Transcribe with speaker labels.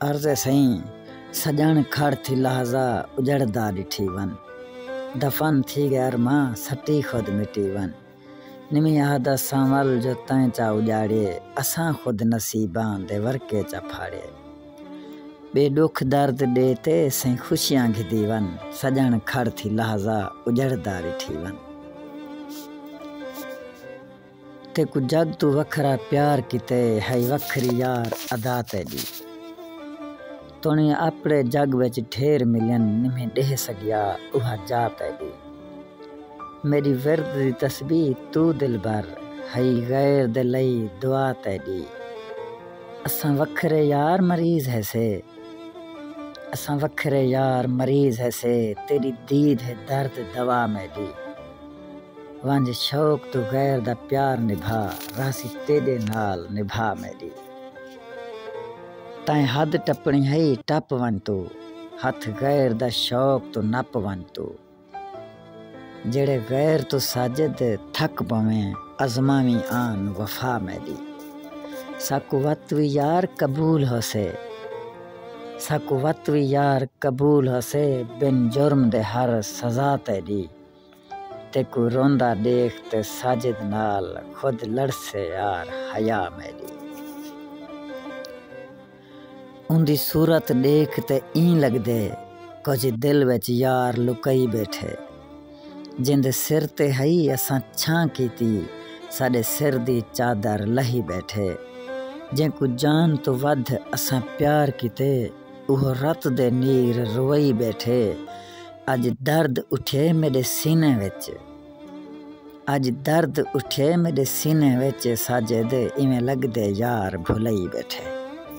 Speaker 1: عرض ہے سئیں سڄݨ کھڑ تھی لحظہ اجڑدا ݙٹھی ون دفن تھی ڳئے ارماں سٹی خود مٹی ون نویں عہد اساں ول جو تیں چا اڄاڑیے اساں خود نصیباں دے ورقے چا پھاڑیے ٻئے ݙکھ درد ݙے تے سئیں خوشیاں گھدی ون سڄݨ کھڑ تھی لحظہ اجڑدا ݙٹھی ون۔ تیکوں جگ توں وکھرا پیار کیتے ہئی وکھری یار ادا تیڈی تنڑیاں اپڑے جگ وچ ڈھیر ملین نمہیں ڈیہہ سگیا اوہا جا تیڈی میڈی ورد دی تسبیح تو دلبر ہئی غیر دے لئی دعا تیڈی اساں وکھرے یار مریض ہیسے اساں وکھرے یار مریض ہیسے تیڈی دید ہے درد دوا میڈی۔ ونج شوق توں غیر دا پیار نبھا رہسی تیڈے نال نبھا میڈی تائیں حد ٹپنی ہئی ٹپ ونج تو ہتھ غیر دا شوق توں نپ ونج تو جیڑھے غیر توں ساجد تھک پویں ازماویں آن وفا میڈی ساکوں وت وی یار قبول ہوسے ساکوں وت وی یار قبول ہوسے بن جرم دے ہر سزا تیڈی۔ تیکوں روندا ݙیکھ تے ساجد نال خود لڑسے یار حیا میݙی اوندی صورت ݙیکھ تے ایں لڳدے کجھ دل وچ یار لکئی ٻیٹھے جیندے سر تے ہئی اساں چھاں کیتی ساݙے سر دی چادر لہی ٻیٹھے جینکوں جان توں ودھ اساں پیار کیتے اوہو رت دے نیر روئی ٻیٹھے اڄ درد اٹھئے میݙے سینے وچ اڄ درد اٹھئے میݙے سینے وچ ساجد ایویں لڳدے یار بھلائی ٻیٹھے۔